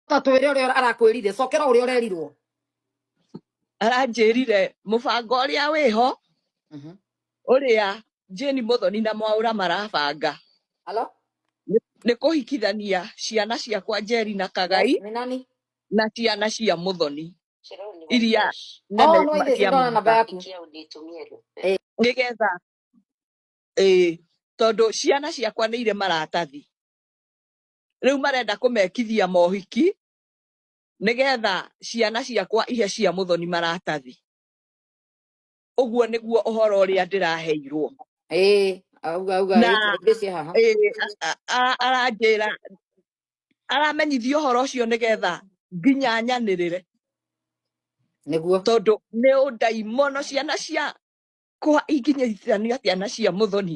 ta twere uria arakwirire cokera uria urerirwo aranjirire mubango uria wiho mhm. uria Jane Muthoni na Mwaura marabanga Hello? nĩ kũhikithania ciana ciakwa Njeri na Kagai na ciana cia Muthoni iria na Oh, no, ithe cia cindano namba maguta yaku. Eh, nĩgetha ĩĩ tondũ ciana ciakwa nĩ irĩ maratathi rĩu marenda kũmekithia mohiki nĩgetha ciana ciakwa ihe cia mũthoni maratathi ũguo nĩguo ũhoro ũrĩa ndĩraheirwo ĩĩ auga auga na rĩtwa rĩngĩ cia haha ĩĩ, a- a- a- aranjĩra aramenyithia ũhoro ũcio nĩgetha nginya nyanĩrĩre nĩguo tondũ nĩ ũndaimono ciana cia kũha ikinyithania ciana cia mũthoni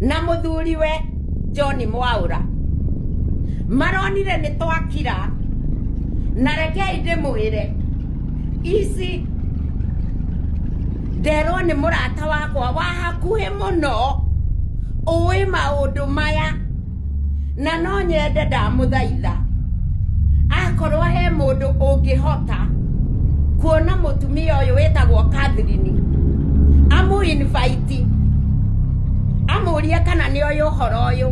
na mũthuriwe John Mwaura maronire nĩ twakira na rekei ndĩmwĩre ici nderwo nĩ mũrata wakwa wa hakuhĩ mũno ũĩ maũndũ maya na no nyende ndamũthaitha akorwo he mũndũ ũngĩhota kuona mũtumia ũyũ wĩtagwo Catherine amũ invite amũrie kana nĩ ũyũ ũhoro ũyũ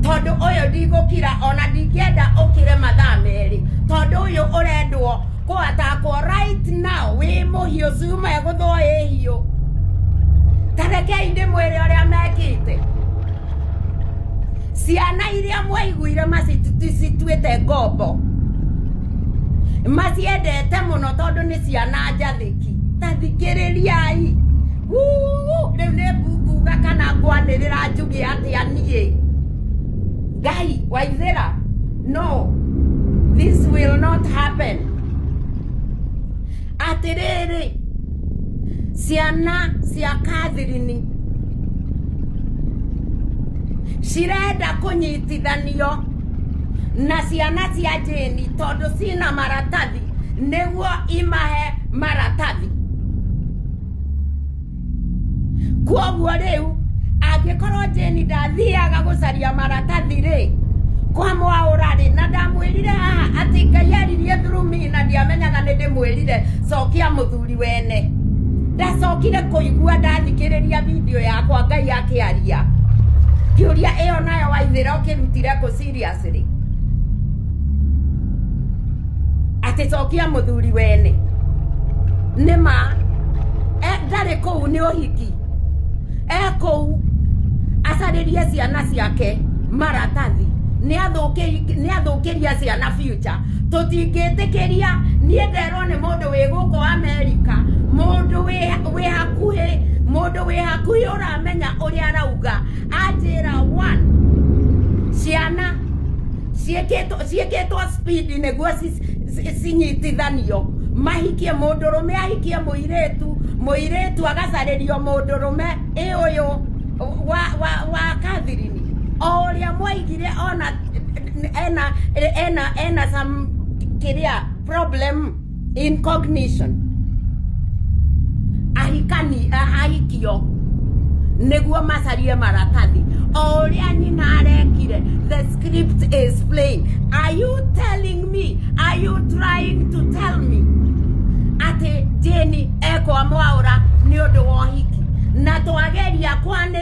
tondũ ũyũ ndigũkira ona ndingĩenda ũkire mathaa merĩ tondũ ũyũ ũrendwo Kũatakwo right now wĩ mũhiũ cuma egũthwo ĩ hiũ tarekei ndĩmwĩre ũrĩa mekĩte ciana iria mwaiguire macituĩte ngombo maciendete mũno tondũ nĩ ciana njathĩki tathikĩrĩriai rĩu nĩ nguga kana ngwanĩrĩra njuge atĩa niĩ ngai waithĩra no this will not happen atĩrĩrĩ ciana cia kathirini cirenda kũnyitithanio na ciana cia jĩni tondũ cina maratathi nĩguo imahe maratathi kwoguo rĩu angĩkorwo jeni ndathiaga gũcaria maratathi rĩ kwa mwaũra rĩ na ndamwĩrire haha atĩ ngai aririe through me na ndiamenyaga nĩ ndĩmwĩrire cokia mũthuri wene ndacokire kũigua ndathikĩrĩria video yakwa ngai akĩaria kĩũria ĩyo nayo waithĩra ũkĩrutire kũ serious City. Atĩ cokia mũthuri wene. Nĩ ma. E, ndarĩ kũu nĩ ũhiki. E kũu acarĩrie ciana ciake maratathi nĩ athũkĩria ciana future tũtingĩtĩkĩria niĩ nderwo nĩ mũndũ wĩ gũkũ Amerika mũndũ wĩ hakuhĩ mũndũ wĩ hakuhĩ ũramenya ũrĩa arauga anjĩra one ciana ciĩkĩtwo ciĩkĩtwo speed nĩguo ci- ci- cinyitithanio mahikie mũndũrũme ahikie mũirĩtu mũirĩtu agacarĩrio mũndũrũme ĩ ũyũ wa wa wa kathirini o ũrĩa mwaigire ona ena ena ena some kĩrĩa problem incognition ahikani ahikio nĩguo macarie maratathi o ũrĩa nyina arekire the script is plain are you telling me are you trying to tell me atĩ jeni ekwa mwaũra nĩ ũndũ wa ũhiki na twageria kwanĩ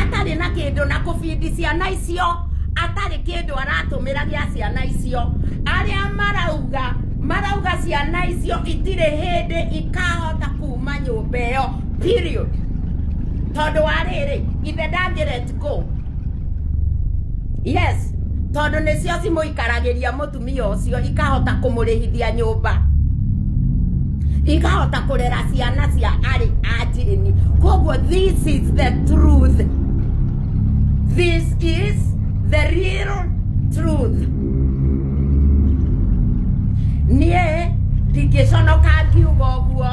atarĩ na kĩndũ na kũbindi ciana icio atarĩ kĩndũ aratũmĩra gĩa ciana icio arĩa marauga marauga ciana icio itirĩ hĩndĩ ikahota kuma nyũmba ĩyo period tondũ wa rĩrĩ ithe ndangĩ let go yes tondũ nĩcio cimũikaragĩria mũtwe atumia ũcio ikahota kũmũrĩhithia nyũmba ikahota kũrera ciana cia arĩ anjĩni koguo this is the truth this is the real truth niĩ ndingĩconoka ngiuga ũguo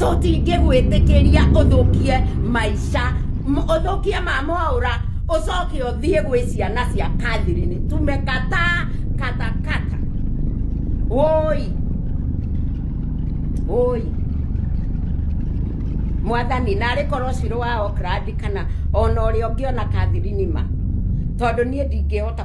tũtingĩgwĩtĩkĩria ũthũkie maica m- ũthũkie ma mwaũra ũcoke ũthiĩ gwĩ ciana cia kathirini tumekataa katakata woi woi mwathani narĩ korwo cirũ wa okrandi kana ona ũrĩa ũngĩ ona kathirini ma tondũ niĩ ndingĩhota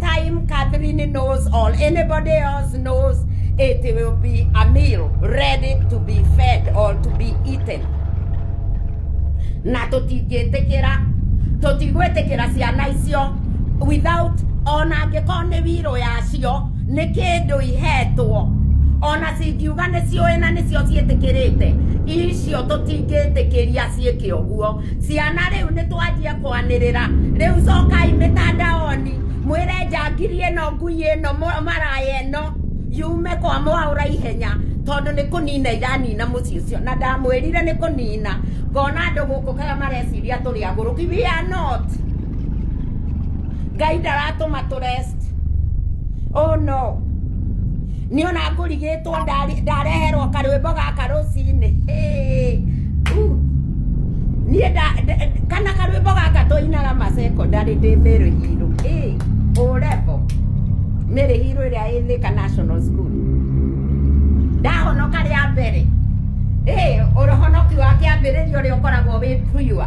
time Catherine knows or anybody else knows, it will be a meal ready to be fed or to be eaten. Na tũtingĩtĩkĩra tũtigwĩtĩkĩra ciana icio without ona angĩkorwo nĩ wirũ yacio nĩ kĩndũ ihetwo ona cingiuga nĩ ciũĩ na nĩcio ciĩtĩkĩrĩte icio tũtingĩtĩkĩria ciĩke ũguo Ciana rĩu nĩtwanjia kwanĩrĩra rĩu cokai mĩtandaoni mwĩre njangiri ĩno ngui ĩno maraya ĩno yume kwa mwaũra ihenya tondũ nĩ kũnina iranina mũciĩ ũcio na ndamwĩrire nĩ kũnina ngona andũ gũkũ kaga mareciria tũrĩ agũrũki we are not ngai ndaratũma tũrest oh no Nĩ ona ngũrigĩtwo ndareherwo karwĩmbo gaka rũcinĩ niĩ kana karwĩmbo gaka tũinaga ma secondary ndĩ Mĩrũ Hiro O level Mĩrũ Hiro ĩrĩa ĩ Thika National School ndahonoka rĩa mbere ũhonoki wa kĩambĩrĩria ũrĩa ũkoragwo wĩ pure.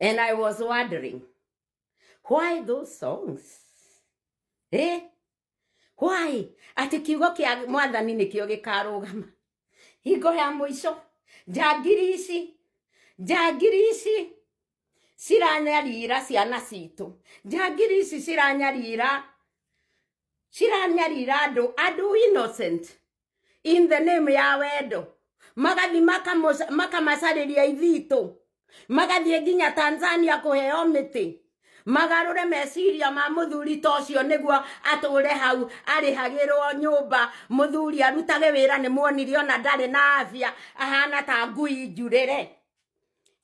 And I was wondering, why those songs? Eh? Why? Ati kiugo kia mwathani ni kio gikarugama. Hingo ya muico. Njangiri ici. Njangiri ici. Ciranyarira ciana citũ. Njangiri ici ciranyarira. Ciranyarira andũ. Andũ innocent. in the name ya wendo magathi makamoca- makamacarĩria ithitũ magathiĩ nginya tanzania kũheo mĩtĩ magarũre meciria ma mũthuri ta ũcio nĩguo atũre hau arĩhagĩrwo nyũmba mũthuri arutage wĩra nĩ muonire ona ndarĩ na afya ahana ta ngui njurĩre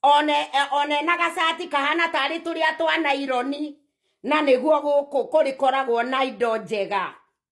one eh, one na gacati kahana tarĩ tũrĩa twa naironi na nĩguo gũkũ kũrĩkoragwo na indo njega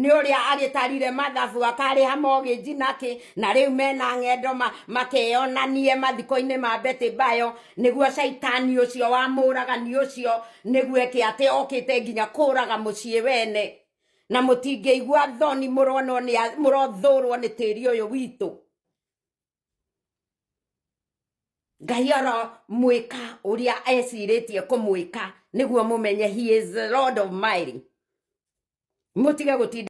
nĩ ũrĩa agĩtarire mathabu akarĩha mogĩnji nakĩ na rĩu mena ng'endo ma, makeyonanie mathiko-inĩ ma beti bayo nĩguo caitani ũcio wa mũragani ũcio nĩguo eke atĩ okĩte nginya kũraga mũciĩ wene na mũtingĩigua thoni mũronwo nĩ a- mũrothũrwo nĩ tĩri ũyũ witũ ngai aromwĩka ũrĩa ecirĩtie kũmwĩka nĩguo mũmenye he is lord of mighty mũtige gũtinda